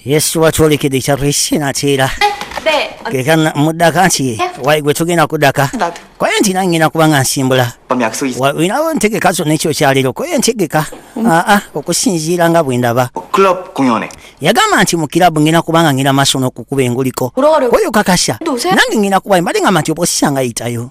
yesu watwolekedde ekyalo ekinatiira keka muddaka nti wali gwe tugenda kuddaka koye nti nangenda kuba nga nsimbula olinawo entegeka zonna ekyo kyaliro koye entegeka mm. aa ah, ah, okusinziira nga bwe ndaba yagamba nti mu kirabu ngenda kuba nga ngenda maaso n'okukuba enguliko oyo kakasa nange ngenda kuba mbadde ngamba nti oba osisanga yitayo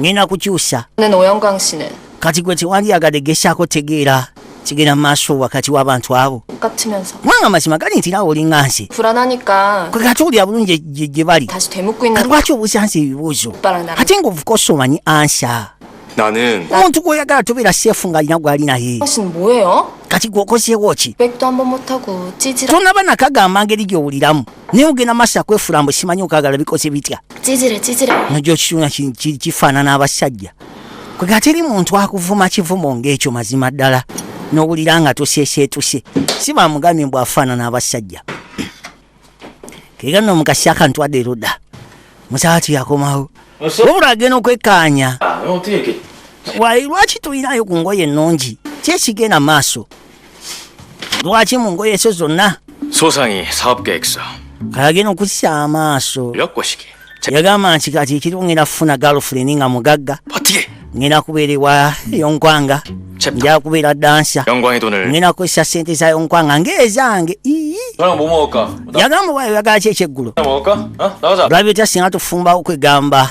ngenda kukyusa kati gwe tewandiyagadde gesaako tegeera kigenda maaso wakati w'abantu abo kubanga amazima gali nti naawe olinga nsi kwegatuwulira bulungi gye bali lwaki obuuza nsi ebibuuzo ate ngaovuka osomanyi ansa omuntu gwoyagala tobeera seefu ng'alina gwali naye kati gwokozeewo ki tonaba nakagamba ngeri gyowuliramu naye ogenda maaso akwefula mbu simanyi okagala bikoze bitya nojo kituna kifaanana abasajja kwega teri muntu akuvuma kivumo ngaekyo mazima ddala nowulira nga tuseeseetuse si bamugambye mbu afaanana abasajja kega no mukasi akantu adde eruda musaati yakomawo wabula agenda okwekaanya ah, lwaki tulinayo ku ngoye ennungi kyekigenda maaso lwaki mu ngoye zo zonna agenda okukisa amaaso yagamba nti kati ekiriwo ngenda kufuna galfuleni nga mugagga ngenda kubeera ewa yonkwanga nja kubeera dansa ngenda kukozesa sente za yonkwanga ngaezange yagamba wayo yagala ki ekyeggulo lwabita singa tufumbawo kwegamba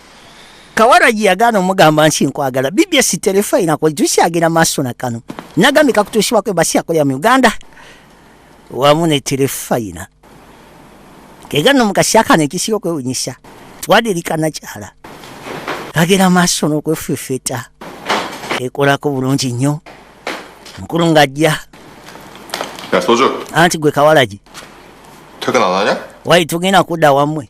kawaragi yagaana omugamba nsi nkwagala bbs terefayina kwejusiagira maaso na kano nagambye kakutuusibwako ebasi yakolera mu uganda wamu ne terefayina kegano mukasiakano ekisiga okwewunyisa twadirikanakyala agera maaso n'okwefefeta ekolako bulungi nnyo mukulu ng'ajja anti gwe kawalagi wayi tugenda kudda wammwe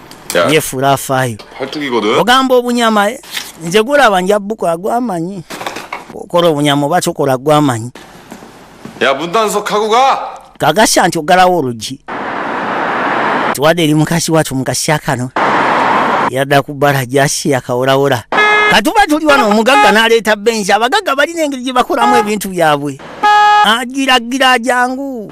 yefuula afaayo ogamba obunyama eh? nze gulaba nja bukola gwamanyi okola obunyama oba kyokola gwamanyi kagasya nti ogalawo olugi tuwadde eri mukasi watu mukasya kano yadda ku bbala jasi yakaworawola katuba tuli wano omugagga naleeta benzi abagagga balina engeri gye bakolamu ebintu byabwe agiragira jangu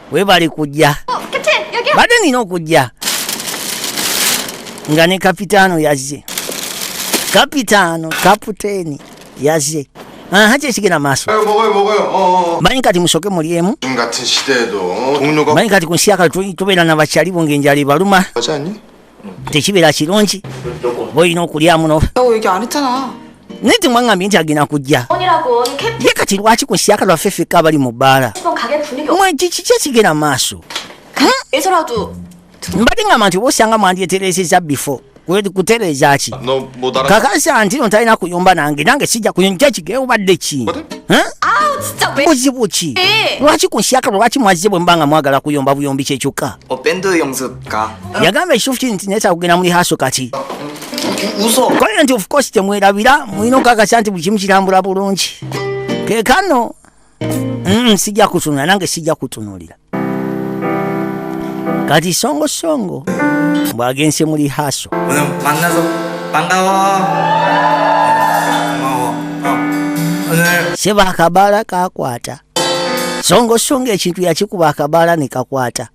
webale kujja badde nina okujja nga ne kapitaano yazze kapitaano kaputeeni yazze aha kyekigenda maaso manyi kati musoke mulyemu manyi kati ku nsi yakati tubeera na bakyalibo ngaenjala ebaluma tekibeera kirungi olina okulyamu no naye temwangambye nti agenda kujja ye kati lwaki ku siaka lwaffe fekka abali mu bbaala kiki ekigera maaso mbadde ngamba nti oba osanga mwandyetereeseza bifo kutereeza ki kakasa nti no talina kuyomba nange nange sijja kuyonja ekigewo badde ki buzibu ki lwaki ku nsiaka lwaki mwazze bwe mba nga mwagala kuyomba buyombi kyekyokka yagamba ekifuki nti naye kyakugenda muli haso kati kale nti ofcourse temwerabira mulina okakasa nti buli kimu kitambula bulungi kekano mm, sijja kutunula nange sijja kutunulira kati songo songo bwagense muli haso seba akabaala kakwata songo songo ekintu yakikuba akabaala nekakwata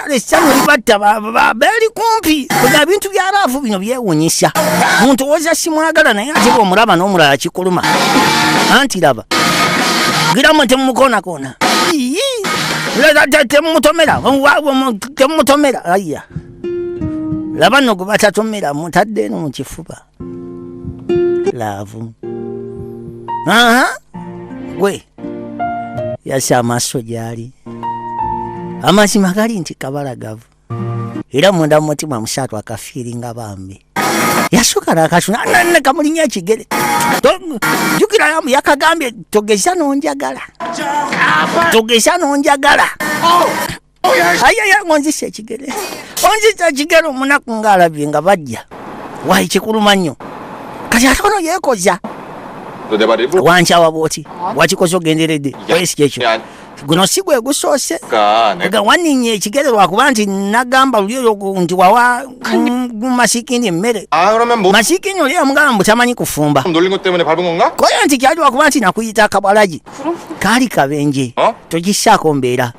kale essanyu libatta beeri kumpi kuga bintu bya laavu bino byewunyisa muntu woza simwagala naye ate bwomulaba n'omulala kikuluma anti laba giramu temumukonakoona temumutomera temumutomera aya laba no gwe batatomera mutadde eno mu kifuba laavu aha gwe yasa amaaso gyali amazima gali nti kabalagavu era munda mu mutima musaatu akafiiringa bambi yasooka nakasuna kamulinya ekigere jukira yamu yakagambye togeza nonjagala togeza nonjagala oh! ayaya ngonzisa ekigere onzisa ekigere omunaku ngaalabye nga bajja wayi kikuluma nnyo kati ate ono yekoza wankyawa bwoti wakikoze ogenderedde oyesi kyekyo guno si gwe gusoose ga waninnya ekigere lwakuba nti nagamba luli oyo nti wawa masikini emmere ah, masikini oli amugamba mbu tamanyi kufumba koyo nti kyali lwakuba nti nakuyita akabwalagi kaali kabenje togisaako mbeera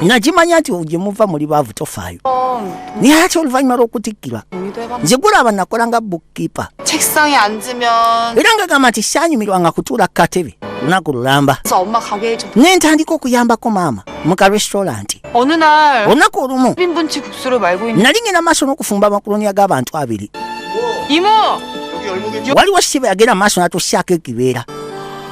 nakimanya nti gye muva muli baavu tofaayo naye ati oluvannyuma lw'okutikkirwa nze gulaba nakola nga bookkeeper era nga gamba nti saanyumirwa nga kutuula ku katebe lunaku lulamba ne ntandika okuyambako maama mu ka restauranti olunaku olumu nali ngenda maaso n'okufumba amakuloni ag'abantu abiri waliwo sibe yagenda maaso natusaako ekibeera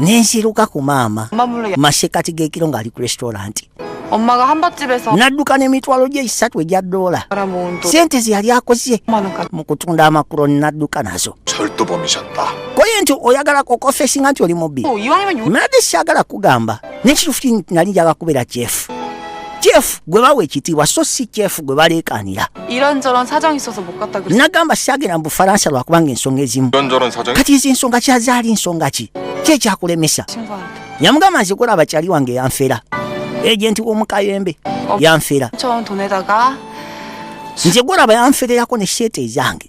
nensiruka ku maama masekati gekiro ngaali ku restauranti nadduka nemitwalo gye esatu egya doola sente zeyali akoze mu kutunda amakulo nadduka nazo koye nti oyagala kokofesinga nti oli mubbi oh, mnade syagala kugamba nekitufuti nti nali njaga kubeera kyefu kyefu gwe bawa ekitiibwa so si kyefu gwe baleekaanira nagamba sagenda mu bufalansa lwakubanga ensonga ezimu kati ezi nsonga kyazaali nsonga ki kyekyakulemesa yamugamba nze kulaba kyali wange yanfera ejenti w'omukayembe yanfera nze gulaba yanfererako ne sheeta ezange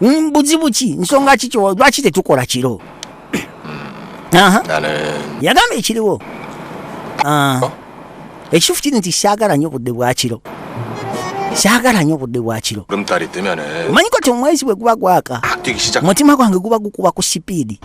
Mm, buzibu ki nsonga ki lwaki tetukola kiro yagamba ekiriwo ah. oh. ekitufu kiri nti syagala nyo obudde bwakiro syagala nyo obudde bwakiro omanyiko ti omwezi bwe guba gwaka ah, mutima gwange guba gukuba ku sipiidi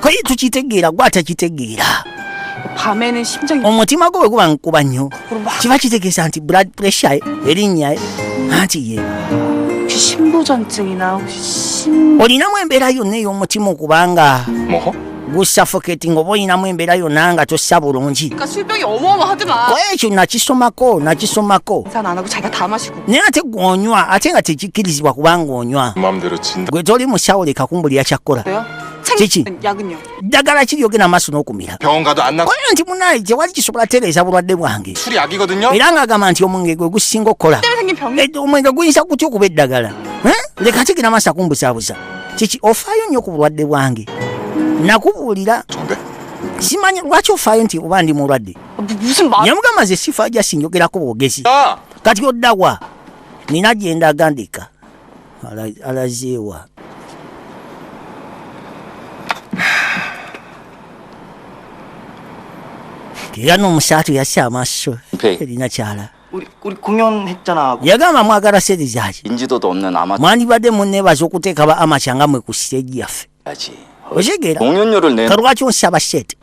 koye tukitegeera gwe atakitegeera omutima gwe bwe guba nkuba nnyo kiba kitegeesa nti blood pressure erinnya anti ye olinamu embeera yonna ey'omutima okubanga gusuffocating oba olinamu embeera yonna nga tossa bulungi ekyo nakisomako nakisomako naye ate gwonywa ate nga tekikkirizibwa kubanga onywa gwe toli musawo leka kumbulira kyakkola kiki ddagala ki lyogenda amaaso n'okumira oyo nti munaye tewali kisobola tereeza bulwadde bwange era ng'agamba nti omwenge gwe gusinga okukola eh, omwenge guyinza gutya okuba eddagala eh? leka kigenda amaaso akumbuzabuza kiki ofaayo nnyo ku bulwadde bwange nakubuulira simanyi lwaki ofaayo nti oba ndi mulwadde yamugamba ze sifa jasinjogerako bwogezi ah! kati oddawa nina gyendaga ndeka alazeewa era n'omusaatu yassa amaaso erina kyala yagamba mwagala sente zaki mwandibadde muneebaza okuteeka ba amakya nga mwe ku siteegi yaffe okitegera kalwaki osaba sheti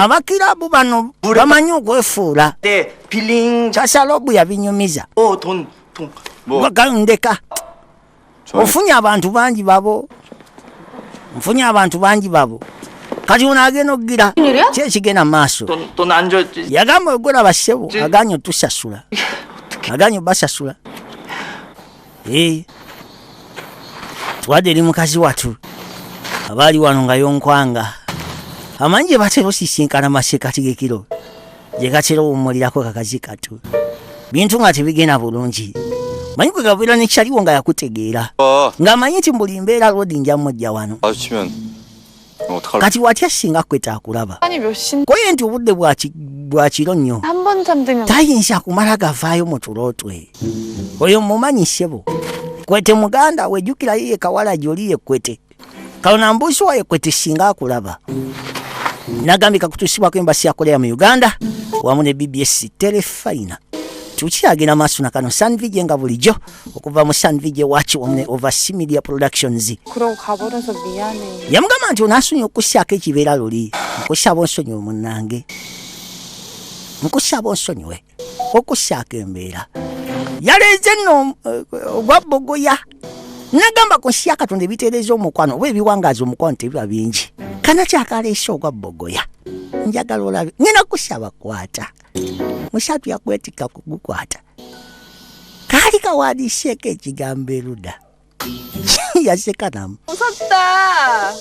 abakirabu bano bamanyi okwefuula kasalobu yabinyumiza oh, ndeka ofunye abantu bangi babo nfunye abantu bangi babo kati ono agenda okugira kyekigenda maaso yagamba ogula basebo aganye otusasula aganye obasasula Hey. twade eri mukazi watu abaali wano nga yonkwanga amanyi gye batera osisinkana masekati gekiro gye gatera owummulirako kakazi katu bintu nga tebigenda bulungi manyi kwe gabeera nekyaliwo nga yakutegeera oh. ng'amanyi nti mbuli mbeera lodi njamujja wano kati watya singa kwe takulaba koye nti obudde bwa kiro nnyo tayinza kumala gavaayo mu tulo twe oyo mumanyi ssebo kwete muganda wejjukira yiye kawala gyoli yekwete kalona mbuusi wa yekwete singa akulaba nagambika kutuusibwako embasi yakolera mu uganda wamu ne bbs telefayina tukyagenda maaso na kano sanvije nga bulijjo okuva mu sanvi gye wakiwomne ova similia productions yamugamba nti onasonyi okusyako ekibeera luli nkusaba onsonyi omunange nkusaba onsonyiwe okusyako embeera yaleeze nno eh, ogwa bogoya nagamba ku nsi ya katonda ebitereeza omukwano oba ebiwangaaza omukwano tebiba bingi kana kyakaleese ogwa bogoya njagala olabe ngenda kusaba kwata musatu yakwetika kugukwata kaali kawandiseeko ekigambo eruda yaseka namu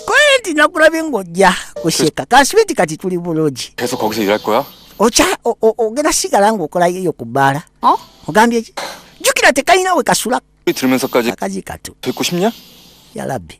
kole nti nakulabye ng'ojja kuseka kansibe nti kati tuli bulungi okya ogenda sigala ng'okolayo eyo ku bbaala oh? ogambye ki jjukira tekalina we kasula akazi katu yalabbi